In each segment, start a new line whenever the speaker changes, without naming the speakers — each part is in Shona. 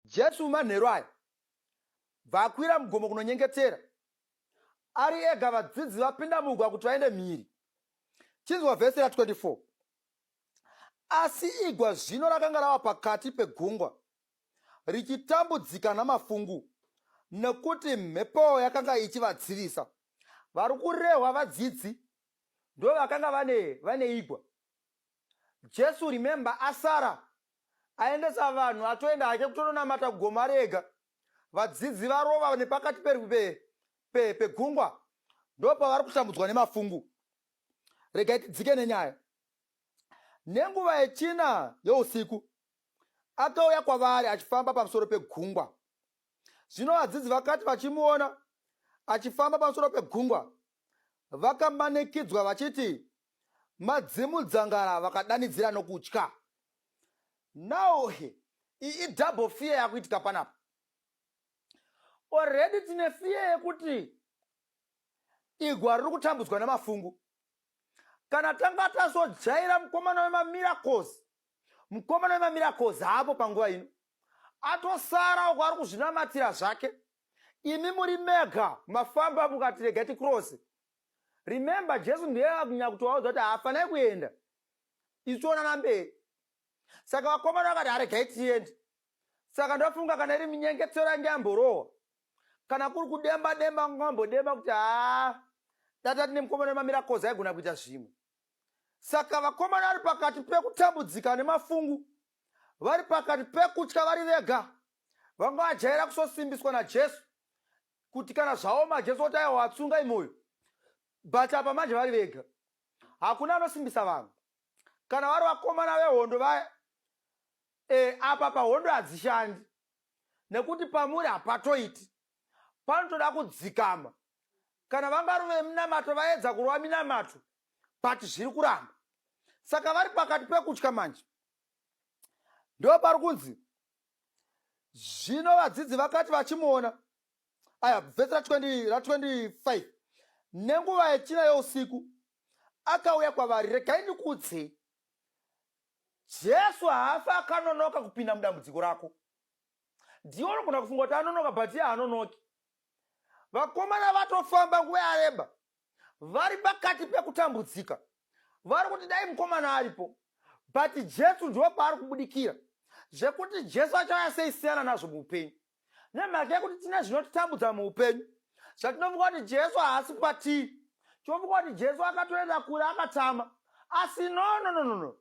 Jesu mumanheru aya bva akwira mugomo kunonyengetera. Ari ega vadzidzi vapinda mugwa kuti vaende mhiri. Chinzwa vhesi ra 24. Asi igwa zvino rakanga rava pakati pegungwa, richitambudzika namafungu, nekuti mhepo yakanga ichivadzivisa. Vari kurehwa vadzidzi ndo vakanga vane, vane igwa. Jesu remember asara aendesa vanhu atoenda hake kutononamata kugomo ari ega vadzidzi varova nepakati pegungwa pe, pe, ndopavari kutambudzwa nemafungu regai tidzike nenyaya nenguva yechina yousiku akauya kwavari achifamba pamusoro pegungwa zvino vadzidzi vakati vachimuona achifamba pamusoro pegungwa vakamanikidzwa vachiti madzimudzangara vakadanidzira nokutya now he iyi idouble fear yakuitika panapa already tine fear yekuti igwa riri kutambudzwa nemafungu kana tanga tazojaira mukomana wemamiracles mukomana wemamiracles haapo panguva ino atosara uko ari kuzvinamatira zvake imi muri mega mafamba mukati rega tikurose remember jesu ndiye akunyanya kutovaudza kuti haafanai kuenda isu toonana mberi saka vakomana vakati haregai tiende saka ndofunga kana iri minyengetero yange yamborohwa kana kuri kudemba demba ngambodemba kuti haa data tine mukomana wemamira koza aigona kuita zvimwe saka vakomana vari pakati pekutambudzika nemafungu vari pakati pekutya vari vega vanga vajaira kusosimbiswa najesu kuti kana zvaoma jesu oti aiwa watsunga imoyo but apa manje vari vega hakuna anosimbisa vanhu kana vari vakomana vehondo vaya e, apa pahondo hadzishandi nekuti pamuri hapatoiti panotoda kudzikama kana vangari veminamato vaedza kurova minamato but zviri kuramba saka vari pakati pekutya manje ndopari kunzi zvino vadzidzi vakati vachimuona aya vhesi ra25 nenguva yechina yousiku akauya kwavari regai ndikuudzei jesu haafi akanonoka kupinda mudambudziko rako ndiwo unogona kufunga kuti anonoka but ye hanonoki vakomana vatofamba nguva yareba vari pakati pekutambudzika vari kuti dai mukomana aripo but jesu ndiwo paari kubudikira zvekuti jesu achauya sei siyana nazvo muupenyu nemhaka yekuti tine zvinotitambudza muupenyu zvatinofunga kuti jesu haasi patiri tinofunga kuti jesu akatoenda kure akatama asi no no no no no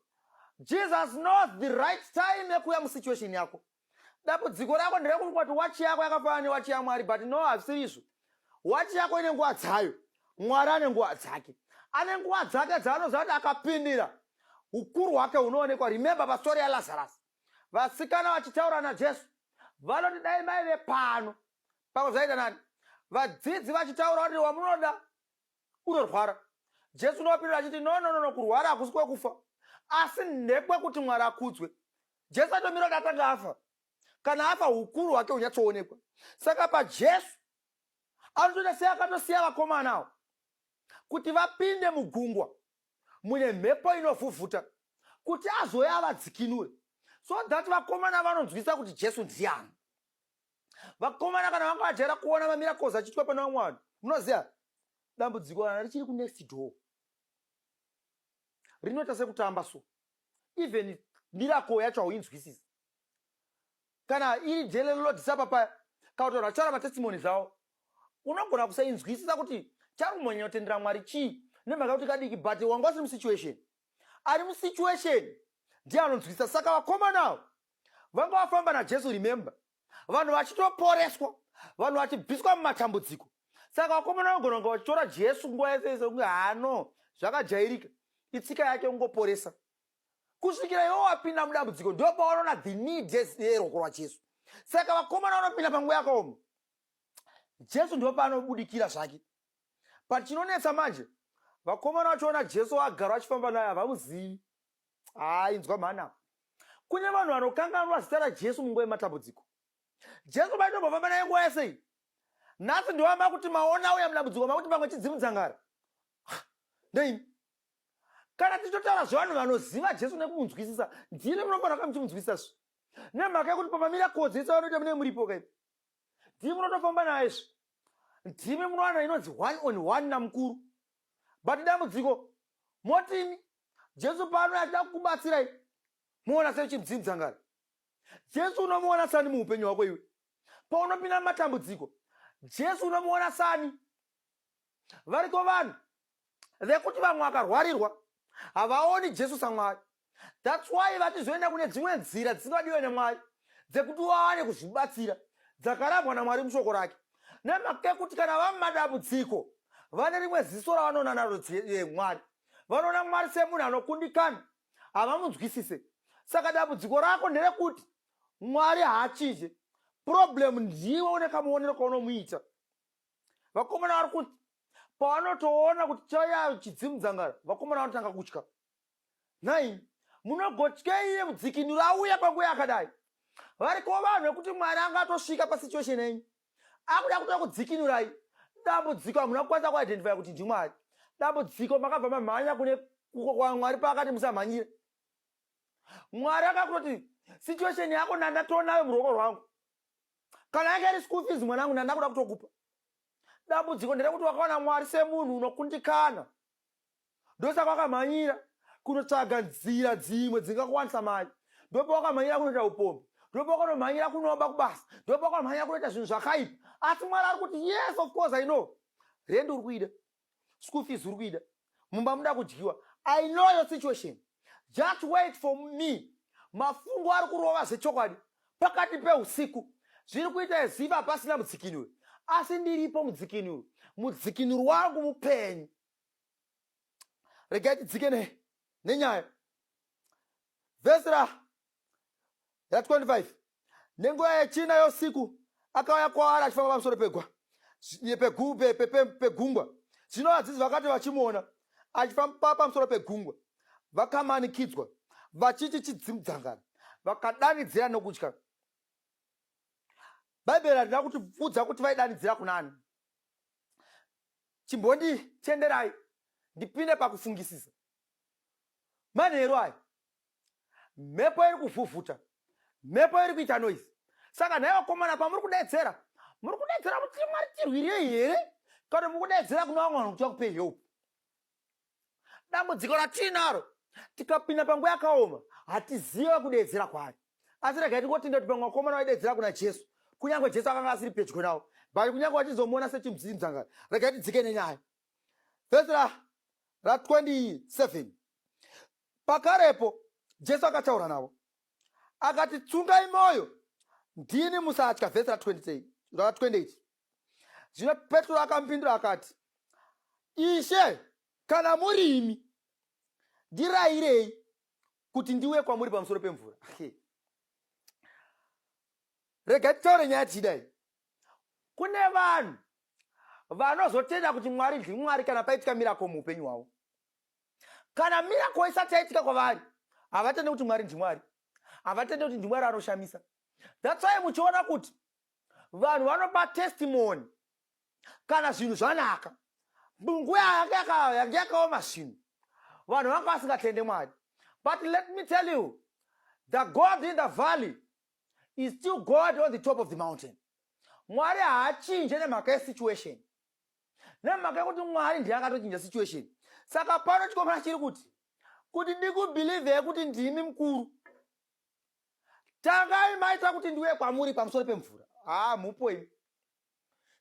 jesus knows the right time yekuuya musituation yako dambudziko rako nderekuti kwati wachi yako yakafanana newachi yamwari but no hazvisirizvo wachi yako ine nguva dzayo mwari ane nguva dzake ane nguva dzake dzaanoziva kuti akapindira ukuru hwake hunoonekwa remember pastori yalazarus vasikana vachitaura najesu vanoti dai maive pano pamwe zvaita nani vadzidzi vachitaura kuti wamunoda unorwara jesu unovapindura achiti no no no kurwara hakusi kwekufa asi ndekwekuti mwari akudzwe jesu atomira kuti atanga afa kana afa ukuru hwake hunyatsoonekwa saka pajesu anotoita sei akatosiya vakomanawo kuti vapinde mugungwa mune mhepo inovhuvhuta kuti azouya avadzikinure so that vakomana vanonzwisa kuti jesu ndiani vakomana kana vanga vajaira kuona mamiracles achiitwa pana vamwe vanhu munoziva dambudziko kana richiri kunext door rinoita sekutamba so even miracle yacho hauinzwisisi kana iri jele lodisa papaya kana kuti vanhu vachaura matestimoni zvavo unogona kusainzwisisa kuti chari kumhanya kutendera mwari chii nemhaka kuti kadiki but wanga usiri musituation ari musituation ndiye anonzwisisa saka vakomanawo vanga vafamba najesu remember vanhu vachitoporeswa vanhu vachibviswa mumatambudziko saka vakomana vanogona kunge vachitora jesu nguva yese yese kunge hano zvakajairika itsika yake kungoporesa kusvikira iwo wapinda mudambudziko ndo pawanoona the need yeruoko rwajesu saka vakomana vanopinda panguva yakaoma jesu ndo paanobudikira zvake but chinonetsa manje vakomana vachiona jesu waagara vachifamba naye havamuzivi haa inzwa mhana kune vanhu vanokanganwa zita rajesu munguva yematambudziko jesu maitombofamba naye nguva yasei nhasi ndiwa makuti maona auya mudambudziko makuti pamwe chidzimudzangara nei kana tichitotaura zvevanhu vanoziva jesu nekumunzwisisa ndiri munofanira kuva muchimunzwisisa zvi nemhaka yekuti pamamira kodzi yese vanoita mune muripo kai ndimi munotofamba naye zvi ndimi munowana inonzi one on one namukuru but dambudziko motini Jesu paanouya achida kukubatsirai muona sei uchimudzinza ngari jesu unomuona sani muupenyu hwako iwe paunopinda mumatambudziko jesu unomuona sani variko vanhu vekuti vamwe vakarwarirwa havaoni jesu samwari thats why vachizoenda kune dzimwe nzira dzisingadiwe nemwari dzekuti waane kuzvibatsira dzakarambwa namwari mushoko rake nemhaka yekuti kana vamumadambudziko vane rimwe ziso ravanoona naro mwari vanoona mwari semunhu anokundikana havamunzwisise saka dambudziko rako nderekuti mwari haachinje problem ndiwe une kamuonero kaunomuita vakomana vari kuti pavanotoona kuti chaya chidzimu dzangara vakomana vanotanga kutya nhai munogotyei iye mudzikinuro auya kwanguya akadai variko vanhu vekuti mwari angatosvika pasituation enyu akuda kuda kudzikinurai dambudziko hamuna kukwanisa kuidentifya kuti ndimwari dambudziko makabva mamhanya kune kuko kwamwari paakati musamhanyire mwari akakutoti situation yako nandatonayo muruoko rwangu kana yanga iri school fees mwanangu ndandakuda kutokupa dambudziko nderekuti wakaona mwari semunhu unokundikana ndosaka wakamhanyira kunotsvaga nzira dzimwe dzingakuwanisa mari ndopa wakamhanyira kunoita upombi ndopa wakanomhanyira kunoba kubasa ndopa wakamhanyira kunoita zvinhu zvakaipa asi mwari ari kuti yes of course i know rendi uri kuida school fees uri kuida mumba muda kudyiwa i know your situation Just wait for me. Mafungo ari kurova zvechokwadi pakati peusiku. Zviri kuita eziva pasina mudzikinuri. Asi ndiripo mudzikinuri. Mudzikinuri wangu mupenyu. Regai tidzike ne, nenyaya. Vhesi ra That's 25. Nenguva yechina yosiku akauya kwaari achifamba pamusoro pegwa pegungwa. Zvino vadzidzi vakati vachimuona achifamba pamusoro pegungwa vakamanikidzwa vachiti chidzimudzangana vakadanidzira nokutya. Bhaibheri harina kutiudza kuti vaidanidzira kunani. Chimbonditenderai ndipinde pakufungisisa manheru aya. mhepo iri kuvhuvhuta mhepo iri kuita noise saka nhai vakomana pamuri kudedzera muri kudedzera kuti mwari tirwire here kana muri kudedzera kuna vamwe vanhu kuti vakupe help dambudziko ratiinaro tikapinda panguva yakaoma hatiziva kudedzera kwaari asi regai tingotenda kuti pamwe vakomana vaidedzera kuna jesu kunyange jesu akanga asiri pedyo navo but kunyange vachizomuona sechimziimzangari regai tidzike nenyaya vhesi ra ra 27 Pakarepo Jesu akataura navo akati, Tsungai mwoyo, ndini, musatya. Vhesi ra 28. Zvino Petro akamupindura akati, Ishe, kana muri imi, ndirairei kuti ndiuye kwamuri pamusoro pemvura. Rega titaure nyaya tichidai. Kune vanhu vanozotenda kuti Mwari ndiMwari kana paitika mirako muupenyu hwavo. kana miracle isati yaitika kwavari havatende kuti mwari ndimwari havatende kuti ndimwari anoshamisa thats why muchiona kuti vanhu vanopa testimony kana zvinhu zvanaka munguva yange yakaoma zvinhu vanhu vanga vasingatende mwari but let me tell you the god in the valley is still god on the top of the mountain mwari haachinje nemhaka yesituation nemhaka yekuti mwari ndiye akatochinja situation saka pano chikomana chiri kuti kuti ndikubhilivhei kuti ndimi mukuru tangai maita kuti ndiuye kwamuri pamusoro pemvura haa mhupo imi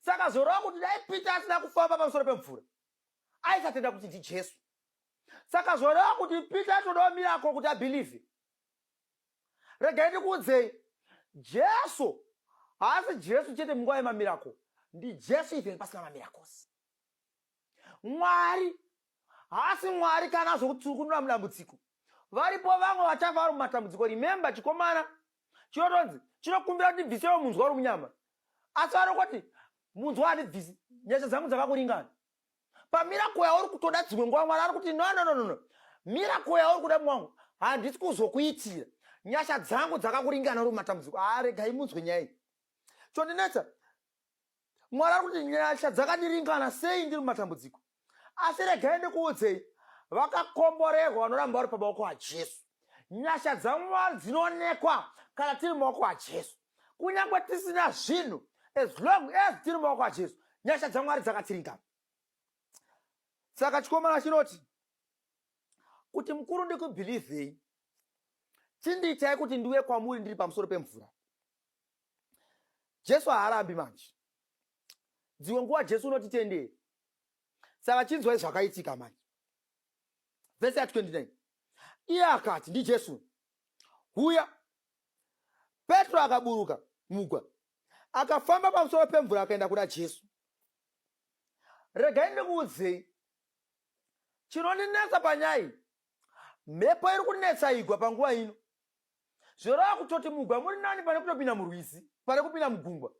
saka zorova kuti dai peter asina kufamba pamusoro pemvura aisatenda kuti ndijesu saka zoreva kuti peter atodawo mirako kuti abhilivhe Regai ndikuudzei, Jesu haasi Jesu chete munguva yemamirako, ndiJesu even pasina mamirakosi. Mwari haasi Mwari kana zvokuti tiri kunura mudambudziko. Varipo vamwe vachafa vari mumatambudziko. Remember, chikomana chinotonzi chinokumbira kuti ndibvisewo munzwa uri munyama, asi vanokoti munzwa handibvisi, nyasha dzangu dzakakuringana. pamiracle yauri kutoda dzimwe nguva mwari ari kuti no no no no miracle yauri kuda mwangu handisi kuzokuitira nyasha dzangu dzakakuringana uri matambudziko aregai munzwe nyaya iyi chondinetsa mwari ari kuti nyasha dzakandiringana sei ndiri mumatambudziko asi regai ndikuudzei vakakomborerwa vanoramba vari pamaoko ajesu nyasha dzamwari dzinoonekwa kana tiri maoko ajesu kunyange tisina zvinhu as long as tiri maoko ajesu nyasha dzamwari dzakatsiringana saka chikomana chinoti kuti mukuru ndikubhilivhei chindiitai kuti ndiuye kwamuri ndiri pamusoro pemvura jesu haarambi manje dzimwe nguva jesu unotitendei saka chinzwai zvakaitika manje vese ya 29 iye akati ndijesu huya Petro akaburuka mugwa, akafamba pamusoro pemvura akaenda kuna Jesu. Regai ndikuudzei chinondinetsa panyaya iyi. Mhepo iri kunetsa igwa panguva ino, zvoreva kutoti mugwa muri nani pane kutopinda murwizi, pane kupinda mugungwa.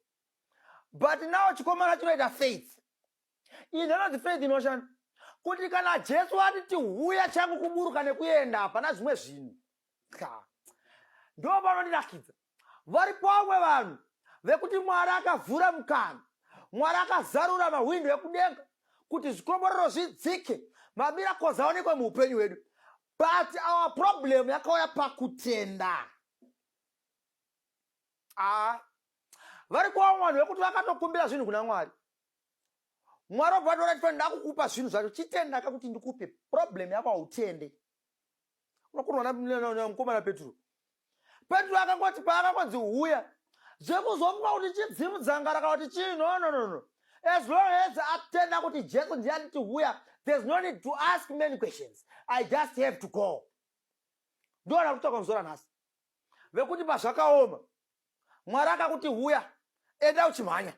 But now chikomana chinoita faith Izvi zvanonzi faith inoshanda kuti kana Jesu ati tihuya changu kuburuka nekuenda hapana zvimwe zvinhu. Ndo vanondirakidza vari pamwe vanhu vekuti Mwari akavhura mukana, Mwari akazarura mahwindo ekudenga kuti zvikomborero zvidzike, mamiracles aonekwe muupenyu hwedu. But our problem yakauya pakutenda. Ah, vari kuva vanhu vekuti vakatokumbira zvinhu kuna Mwari mwari wabva vatora chifani ndakukupa zvinhu zvacho chitenda ka kuti ndikupe problem yako hautende unokonwa namukomana petro petro akangoti paakangonzi huya zvekuzomuka kuti chidzimu dzangara kana kuti chii no no no no as long as atenda kuti jesu ndiye anditi huya there's no need to ask many questions i just have to go ndoona kuti takamuzora nhasi vekuti pazvakaoma mwari akakuti huya enda uchimhanya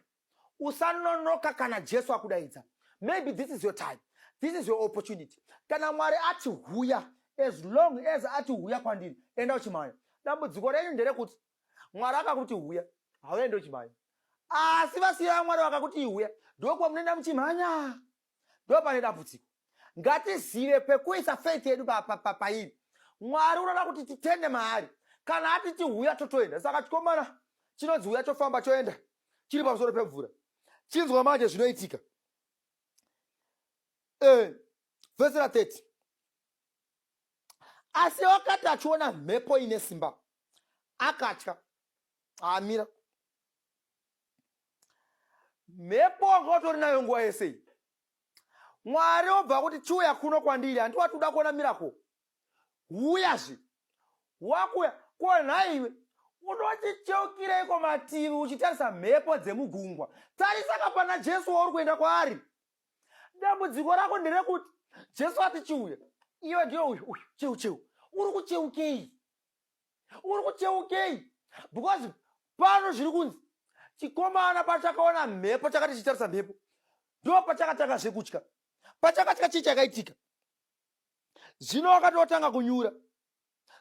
usanonoka kana jesu akudaidza maybe this is your time this is your opportunity kana mwari ati huya as long as ati huya kwandiri enda uchimhanya dambudziko renyu nderekuti mwari akakuti huya hauende uchimhanya asi vasiya vamwari vakakuti huya ndokuva munoenda muchimhanya ndo pane dambudziko ngatizive pekuisa feit yedu pairi mwari unoda kuti titende maari kana ati tihuya totoenda saka chikomana chinonzi huya chofamba choenda chiri pamusoro pemvura chinzwa manje zvinoitika eh, vhesi ra 30 asi wakati achiona mhepo ine simba akatya amira mhepo wanga utori nayo nguva yese iyi mwari obva kuti chiuya kuno kwandiri handi wati uda kuona mirako huyazve wakuya ko nhai iwe unochicheukireiko mativi uchitarisa mhepo dzemugungwa tarisa kapana jesu wauri kuenda kwaari dambudziko rako nderekuti jesu ati chiuya iwe ndiyo uyu uyu cheu cheu uri kucheukei uri kucheukei because pano zviri kunzi chikomana pachakaona mhepo chakati chitarisa mhepo ndo pachakatanga zvekutya pachakatya chii chakaitika zvino wakatotanga kunyura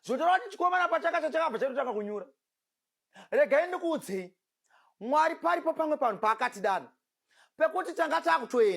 zvotaura kuti chikomana pachakatya chakabva chatotanga kunyura regai ndikuudzei mwari paripo pamwe panhu paakatidana pekuti tanga takutoenda